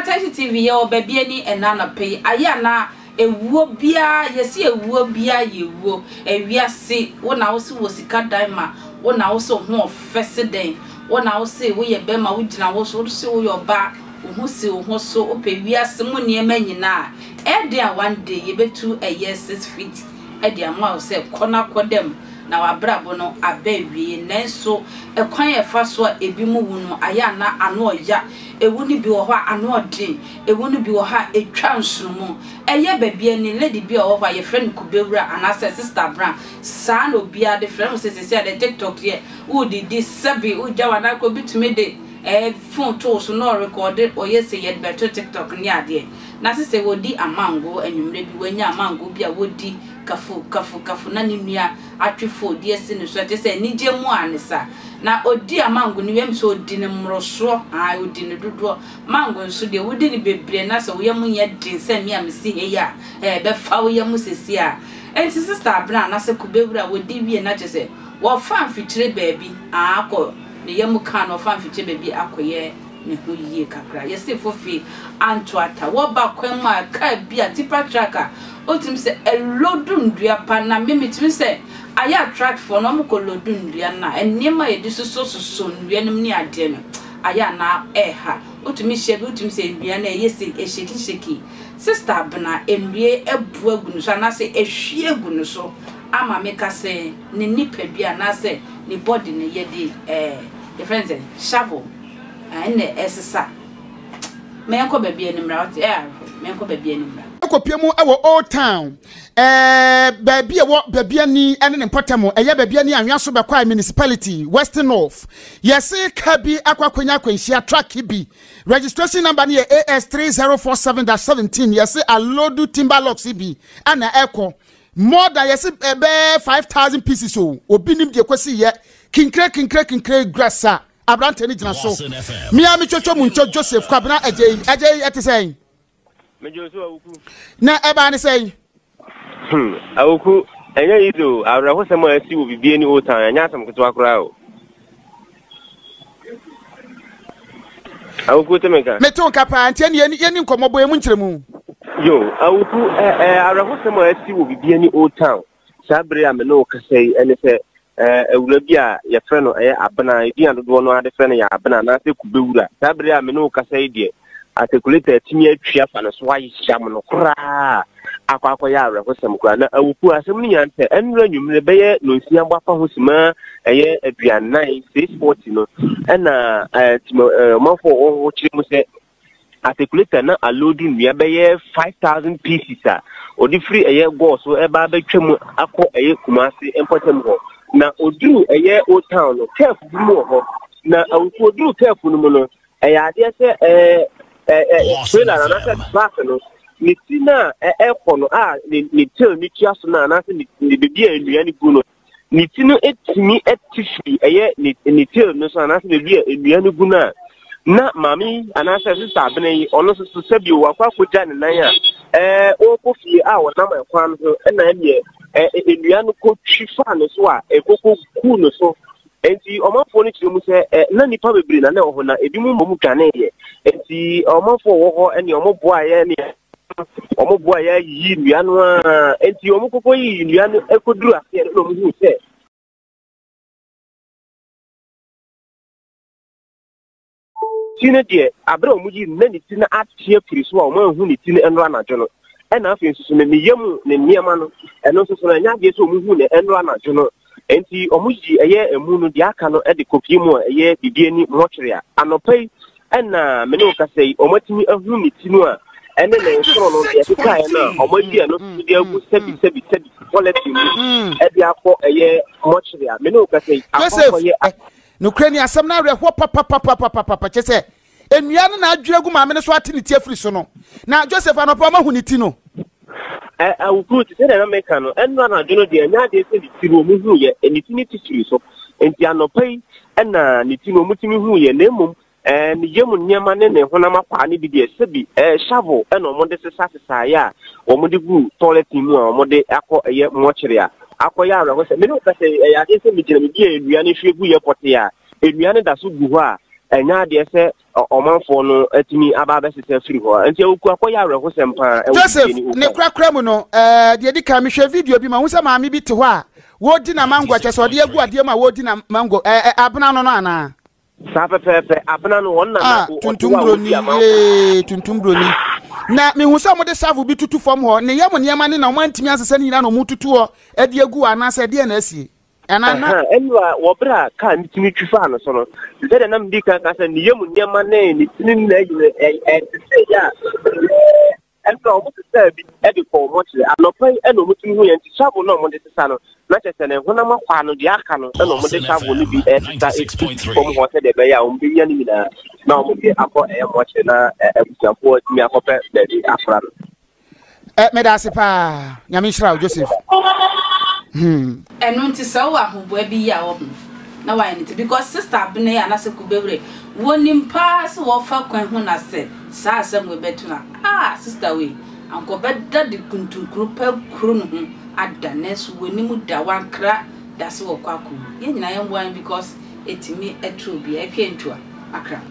attention tv yɛ wɔ baabi ani ɛna anapa yi ayɛ ana ewuo biara yɛsi ewuo biara yɛ ewuo ewiase wo na wosi wɔ sika dan ma wo na wosi ho ɔfɛ si dɛn wo na wosi woyɛ bɛrima wogyina wo so wosi woyɛ ɔbaa. Wo ho si wo ho so wopɛ wiase mu nneɛma nyina a, ɛyɛ den a one day yɛbɛtu ɛyɛ six feet de ama wo sɛ kɔ na kɔ da mu na w'abrabɔ no aba awiei. Nanso ɛkwan a ɛfa so a ɛbi mu wu no ayɛ a na ano ɔya. Ɛwu no bi wɔ hɔ a ano ɔden, ɛwu no bi wɔ hɔ a ɛtwa nsono mu. Ɛyɛ baabi a ni lady bi a ɔwɔ hɔ a yɛfrɛ no Kubewura anaasɛ Sister Bra, saa na obiara de frɛ no, wohu sɛ seesei a deɛ TikTok yɛ, wode di sɛbe wogya w'anan kɔ, obi tumi de. eh phone too so na ɔrekɔɔde ɔyɛ sɛ yɛde bɛto tiktok ne adeɛ na se sɛ wɔdi amango anwummerɛ bi wanya amango bi a wɔdi kafu kafu kafu na ne nua atwe phone de asi ne so ɛkyerɛ sɛ anigyeɛ mu ara ne sa na ɔdi amango no wie a menim sɛ ɔdi no mmorosoɔ ae ɔdi no dodoɔ mango nso deɛ wodi no bebree na sɛ wo yam nyɛ den sɛ me a mesi ha yi a eh ɛbɛfa wo yam sesie a enti sister Abena anase Kubewura wɔdi wie na kyerɛ sɛ wɔfa mfikyire baabi aakɔ ne yam kaa no ɔfa mfikyɛ baabi akɔyɛ ne ho yie kakra. Yesefo fi Antuata wɔ ba kwan mu a kaa bi a tipa truck a otumi sɛ ɛlodu nnua pa nam me mitumi sɛ ayɛ a truck foɔ no wɔkɔ lodu nnua no a nneɛma a yɛde soso soso nnua no mu ne adeɛ no ayɛ a na ɛha wotumi hyɛ bi wotumi sɛ nnua no ɛyɛ sɛ ɛhyeki hyeki sister abena nnua abu agu no so anaasɛ ɛhwie agu no so ama me ka sɛ ne nipadua anaasɛ ne body no yɛde eh yɛfrɛ no sɛn shovel ah ɛna ɛsesa mɛnkɔ baabi ani mmra wote eh ahwɛ mɛnkɔ baabi ani mmra. Kɔpue mu wɔ Old Town, eh baabi a ɛwɔ baabi ani ne ne mpɔtam, ɛyɛ baabi ani anwea so bɛkwae municipality, West North. Yɛse ka bi akɔ akɔnya akwanhyia truck bi, registration number no yɛ AS 3047-17, yɛse aloadu timber locks bi na ɛkɔ. More than yɛsi ɛbɛɛ five thousand pieces o obi nim deɛ kwasi yɛ kinkire kinkire kinkire grass a aberanteɛ no gyina so mmea mi twɛtwɛ mu ntwɛ Joseph kwabena ɛgye yi ɛgye yi ɛte sɛn. Mejo so awuku. Na ɛbaa ne sɛn. Hmm awuku ɛnyɛ yizo awerɛhosɛm a ɛsi wɔ bibie ne otan ɛnyɛ asɛm ketewa koraa o. Awuku te me ka. Me to nka paa nti ɛne yɛni yɛni nkɔmɔ bɔ emu nkyerɛ mu. Yo, awuku ɛ ɛ awerɛhosɛm a ɛsi wɔ bibia ni Old Town saa bere a me ne wo kasa yi ɛne sɛ ɛɛ awura bi a yɛfrɛ no ɛyɛ abena edin a dodoɔ no ara de frɛ no yɛ abena anaasɛ kubewura saa bere a me ne wo kasa yi deɛ Articulator atumi atwi afa no so ayam no koraa akɔ akɔyɛ awerɛhosɛm koraa na awuku asɛm no nya ntɛ ɛnura nwumire bɛyɛ nonsia bɔ afa ho sima ɛyɛ aduanan six forty no ɛna ɛtima ɔmanfo a wɔwɔ hɔ kyerɛ mu sɛ articulator na alodu nnua bɛyɛ five thousand pieces a ɔde firi ɛyɛ gɔɔ so ɛba abɛtwa mu akɔ ɛyɛ kumase mpɔtam hɔ na oduru ɛyɛ old town no kɛɛfo bi mu wɔ hɔ na awuku oduru kɛɛfo no mu no Ɛyɛ adeɛ sɛ ɛɛ trailer no anaasɛ truck no ne ti no a ɛkɔ no a ne tail ne tua so no anaasɛ ne baabi a nnua no gu no ne ti no tumi te firi ɛyɛ ne tail no so anaasɛ baabi a nnua no gu no a na maame yi anaasɛ sista abena yi ɔno nso so sɛ bio wakɔ akɔgya ne nan a ɛɛ ɔrekɔ fie a ɔnam ɛkwan ho ɛna ɛneɛ nnua no kɔtwi faa ne so a ɛkɔkɔ kuu ne so Enti ɔmanfoɔ no kyerɛ mu sɛ, ɛ, na nnipa bebree na na ɛwɔ hɔ, na ebinom mmom dwaneeɛ. Enti ɔmanfoɔ a wɔwɔ hɔ ne wɔboaeɛ ne wɔboaeɛ yiyii nnua no ara. Enti wɔkɔkɔ yiyii nnua no kɔduru aseɛ no na wɔhuu sɛ, Ti no deɛ, abere a wɔyii no na ne ti no ate afiri so a wɔanhu ne ti no nnora anadwo no. Ɛna afei nso so no, ne yam ne nneɛma no, ɛno nso so no, ɛnyɛ adeɛ sɛ wɔhu no nnora anadwo no. Enti wɔyi ɛyɛ emu no, deɛ aka no de kɔpie mu a ɛyɛ biribi ani mortuary a anɔpa yi ɛna me ne wo kasa yi, wɔatumi ahu ne ti no a ɛne ne nsoro no deɛ ɛkekaeɛ no a wɔayi ɛno nso so de agu sɛbi sɛbi sɛbi bulletin mu ɛde akɔ ɛyɛ mortuary a me ne wo kasa yi akɔ akɔyɛ Nokorɛ ni, asɛm no awerɛhoɔ papapapapapapa, kyerɛ sɛ, nnua no na adwiri agu maame no so ate ne ti afiri so no. Na Joseph, anɔpa a wɔahu ne ti no. Ɛ, awufoɔ ti, sɛdeɛ na meka no, ɛnora anadwo no deɛ, ɛnyɛ adeɛ sɛ ne ti no wɔhuiɛ, ne ti no ti firii so. Enti anɔpa yi na ne ti no wɔtumi huiɛ, na mmom Ɛɛ, ne yam nneɛma ne ne honam akwaa no bi deɛ, sɛbi ɛɛ, shovel na wɔde sesa sesaeɛ a wɔde gu toilet mu a wɔde akɔ ɛyɛ mortuary a akɔyɛ awerɛhosɛm. Me ne wo ka sɛ, ɛyɛ adeɛ sɛ megyina baabi a nnua no hwie guiɛ pɔtee a, nnua no da so gu hɔ a, ɛnyɛ adeɛ sɛ ɔmanfoɔ no atumi aba abɛsesa afiri hɔ. Nti awuku akɔyɛ awerɛhosɛm paa ɛwɔ Joseph, ne korakora mu no, ɛɛ, deɛ di kan mehwɛ video bi ma ho sɛ maame bi te hɔ a, wɔredi na mango, kyɛ sɛ ɔde agu adeɛ mu a wɔredi na mango, ɛɛ, abena no no anaa? saa pɛpɛɛpɛ abena no wɔn na na ah, tuntum broni yee tuntum broni na mehu sɛ wɔde savo bi tutu fam hɔ ne yam nneɛma ne na wɔn antumi asesa ne nyinaa na wɔn tutu hɔ ɛde agu anaasɛ ɛdeɛ na asie ɛnana ɛnura wɔbrɛ a kaa ne tumi twi faa no so no sɛ deɛ nam di kan ka sɛ ne yam nneɛma ne ne tumi na ɛyɛ ɛsɛ yɛ a Ɛnna wɔsesaa bi de kɔɔ mɔkyere. Anɔpa yi na wɔtumi hui enti shavel no a wɔde sesa no, na kyerɛ sɛ ne honam akwaa ano, deɛ aka no na wɔde shavel no bi resesa agu fam hɔ sɛdeɛ ɛbɛyɛ a wɔbɛnya ne nyinaa na wɔde akɔ mɔkyere na abusuafoɔ atumi akɔpɛ baabi akora no. Eh, meda ase paa nyame nhyira wo joseph hmm. Ɛno nti sɛ wowɔ ahoboa bi yi a wɔ ho na wayɛ no te because sister Abena yi anase Kubewire wɔ nim paa sɛ wɔ fa kwan ho na sɛ saa asɛm wei bɛ to a ah sister wei anka ɔbɛ da de kuntunkuru pɛ kuru ne ho ada nanso wɔ nim da wɔ ankra da sɛ wɔ kɔ akɔ wu yɛ nyina yɛ mmoa no because ɛtumi ɛto obia ɛtwa ɛntua akra.